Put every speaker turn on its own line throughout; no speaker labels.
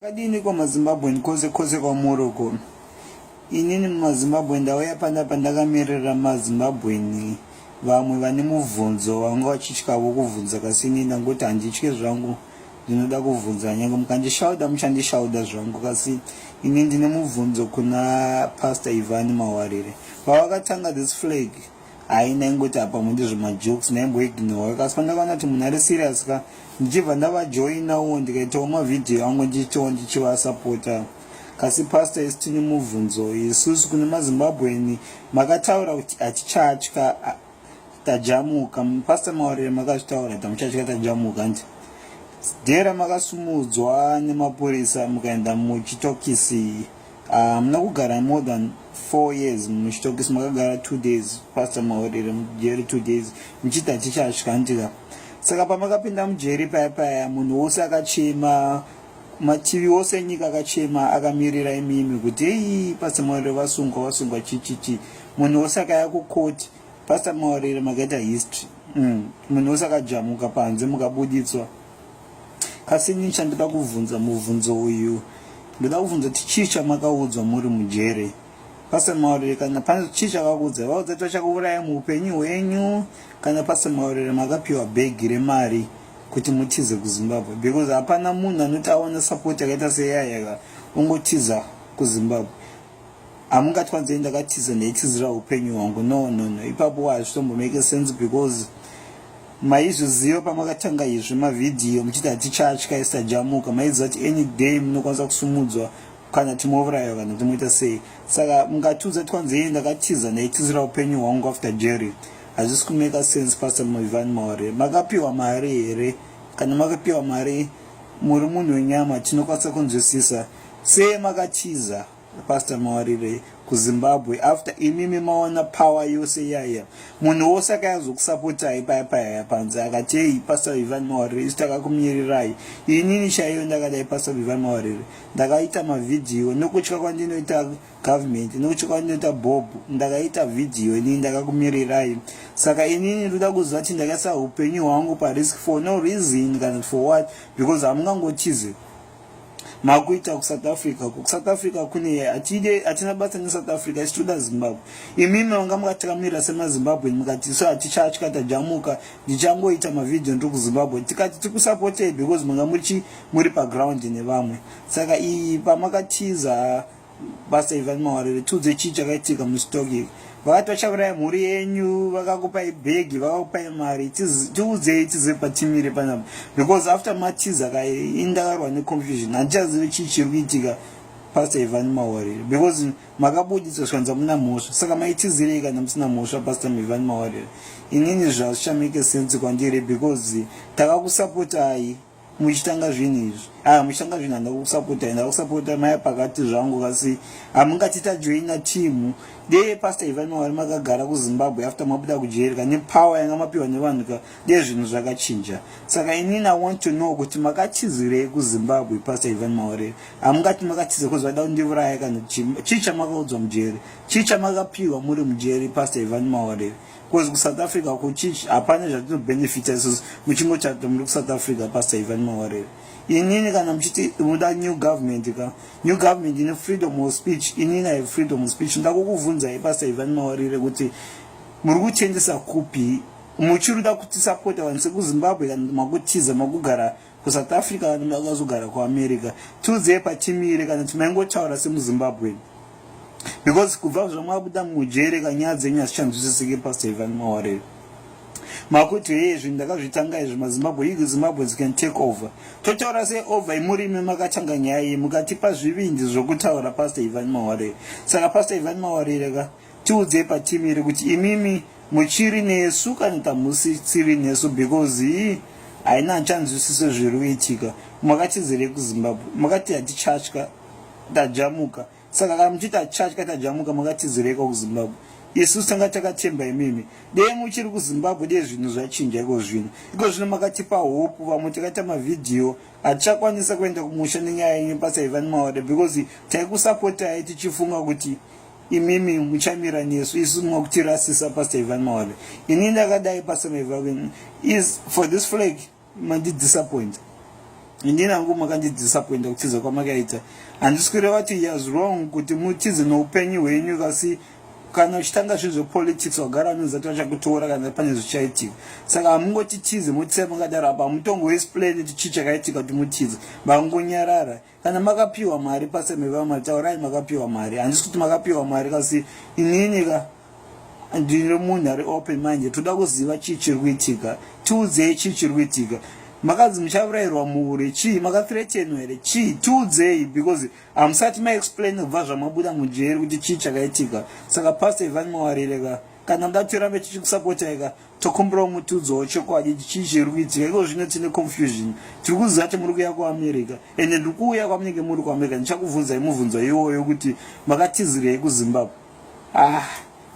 Kadini kwa mazimbabwean kose kose kwamuri uko inini mumazimbabwe ndauya panapa ndakamirira mazimbabweni vamwe vane mubvunzo vanga vachityavo kuvhunza kasi ini ndangoti handitye zvangu ndinoda kuvhunza nyange mukandishauda muchandishauda zvangu kasi ini ndine mubvunzo kuna pastor ivan mawarire pavakatanga this flag Ayi ndaingoti apa mundi zvemajokes ndaimboignora kasi pandakaona kuti munhu ari serious ka ndichibva ndavajoinawo ndikaitawo mavhidhiyo angu ndichitawo ndichivasapota kasi pastor isi tine mubvunzo isusu kune mazimbabweni makataura kuti hatichatya tajamuka pastor mawarire makazvitaura kuti hamuchatya tajamuka nti dera makasumudzwa nemapurisa mukaenda muchitokisi hamuna ah, um, kugara more than four years muchitokisi makagara two days pastor maorere mujeri two days muchiti hatichasvikandika saka pamakapinda mujeri paya paya munhu wose akachema mativi ose enyika akachema akamirira imimi kuti hei pastor maorere vasungwa vasungwa chichichi munhu wose akaya kukoti pastor maorere makaita history mm. munhu wose akajamuka panze mukabuditswa Asi ini chandida kuvhunza muvhunzo uyu ndoda kuvhunza kuti chii chamakaudzwa muri mujere pase maurire kana pane chii chakakuudzai vaudza kuti vachakuuraya muupenyu hwenyu kana pase maurire makapiwa bhegi remari kuti mutize kuzimbabwe because hapana munhu anoti aona sapoti yakaita seyayaka ungotiza kuzimbabwe hamungatwa nzei ndakatiza ndaitizira upenyu hwangu no no no ipapo hazvitombomake sense because maizviziva pamakatanga izvi mavhidhiyo muchiti hatichatya isajamuka maiziva kuti any day munokwanisa kusumudzwa kana timourayiwa kana timoita sei saka mungatiudza twanzei ndakatiza ndaitizira upenyu hwangu after jerry hazvisi kumeka sense pastor muivan maore makapiwa mari here kana makapiwa mari muri munhu wenyama tinokwanisa kunzwisisa Sei makatiza Pastor Mawarire kuZimbabwe after imimi maona power yose yaya munhu wose akayazokusapotai paya paya panze akatei Pastor Ivan Mawarire isu takakumirirai inini chaiyo ndakadai Pastor Ivan Mawarire ndakaita mavhidhiyo nokutya kwandinoita government nokutya kwandinoita bob ndakaita vhidhiyo inini ndakakumirirai saka inini ndoda kuziva kuti ndakaisa upenyu hwangu parisk for no reason kana for what because hamungangotize makuita kusouth africa uko kusouth africa kune hatide hatina basa nesouth africa isi toda zimbabwe imimi manga mukatikamira semazimbabwe mukati so hatichatya tajamuka ndichangoita mavhidhiyo ndiri kuzimbabwe tikati tikusapotei because manga muchi muri paground nevamwe saka iyi pamakatiza so, basa ivan mawarire tiudze chii chakaitika mustock iyi vakati vachauraya mhuri yenyu vakakupai bhegi vakakupai mari tiudzei tizive patimire panapa because after matiza ka indakarwa neconfusion handichazive chii chiri kuitika pasta ivan mawarire because makabuditswa zvikanzi hamuna mhosva saka maitizirei kana musina mhosva pasta ivan mawarire inini zvazvichameke sense kwandiri because takakusapotai muchitanga zvinhu izvi a ah, muchitanga zvinhu handa kusapota handa kusapota maya pakati zvangu kasi hamungati ah, tajoina timu dee pastor ivai mawari makagara kuzimbabwe after mabuda kujeri ka nepower yanga mapiwa nevanhu ka dee zvinhu zvakachinja saka inini i want to know kuti makatizirei kuzimbabwe pastor ivai mawari hamungati ah, makatiza kuzi vaida kundiuraya kana chii chamakaudzwa mujeri chii chamakapiwa muri mujeri pastor ivai mawari Because ku South Africa ku church hapana zvatino benefita isusu muchingo chata muri ku South Africa pastor Ivan Mawarere. Inini kana muchiti muda new government ka new government ine freedom of speech inini I have freedom of speech ndakukuvhunzai pastor Ivan Mawarere kuti muri kuchendesa kupi muchiruda kutisapota vanhu sekuzimbabwe kana makutiza makugara kusouth africa vanhu vakazogara kuamerica tiudzei patimire kana timaingotaura semuzimbabwen because kubva zvamwabuda mujere kanyaya dzenyu hazichanzwisisike pastor ivan mawarere makuti heye zvinhu ndakazvitanga izvi mazimbabwe yu zimbabweans can take over totaura sei over imurimi makatanga nyaya iyi mukatipa zvivindi zvokutaura pastor ivan mawarere saka pastor ivan mawarere ka tiudzei patimire kuti imimi muchiri nesu kani kamusi tsiri nesu because ii haina nchanzwisiso zviri kuitika makatizirei kuzimbabwe makati hatichatya tajamuka saka kana muchiti hatichatya tajamuka makatizireiko kuzimbabwe isu tanga takatemba imimi dei muchiri kuzimbabwe dei zvinhu zvachinja iko zvino iko zvino makatipa hopu vamwe takaita mavhidhiyo hatichakwanisa kuenda kumusha nenyaya yenyu pasaiva nemaore because taikusapotai tichifunga kuti imimi muchamira nesu isu mokutirasisa pastor ivan mawave ini ndakadai pastor mavave is for this flag mandidisappointa indini hangu makandidisappointa kutiza kwamakaita handisi kureva kuti yas wrong kuti mutize noupenyu hwenyu kasi kana uchitanga zvinhu zvepolitics wagara anoza kuti vachakutora kana pane zvichaitika saka hamungotitize motisa makadaro apa hamutongoesplaini kuti chii chakaitika kuti mutize vangonyarara kana makapiwa mari pase mevamwe taurai makapiwa mari handisi kuti makapiwa mari kasi inini ka ndiri munhu ari open manje toda kuziva chii chiri kuitika tiudzei chii chiri kuitika makanzi muchavurayirwa muhure chii makathretenwa here chii tiudzei because hamusati maexplain kubva zvamabuda mujeri kuti chii chakaitika saka pasta ivani mawarire ka kana muda kuti tirambe tichikusapotai ka tokumbirawo mutudzo wechokwadi chii chiri kuitika iko zvino tine confusion tiri kuziva kuti muri kuya kuamerica ende ndiri kuuya kwamunenge muri kuamerica ndichakubvunzai mubvunzo iwoyo kuti makatizirei kuzimbabwe ah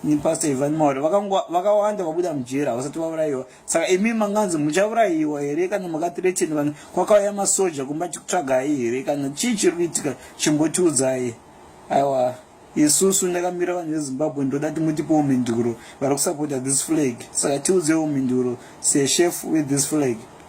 ni pastor ivan maure vakawanda vabuda mujera havasati vaurayiwa saka imi manganzi muchaurayiwa here kana makatireteni vanhu kwakauya masoja kumba tikutsvagai here kana chii chiri kuitika chimbotiudzai aiwa isusu ndakamira vanhu vezimbabwe ndoda ti mutipewo mhinduro vari kusapota this flag saka tiudzewo mhinduro sechef wethis flag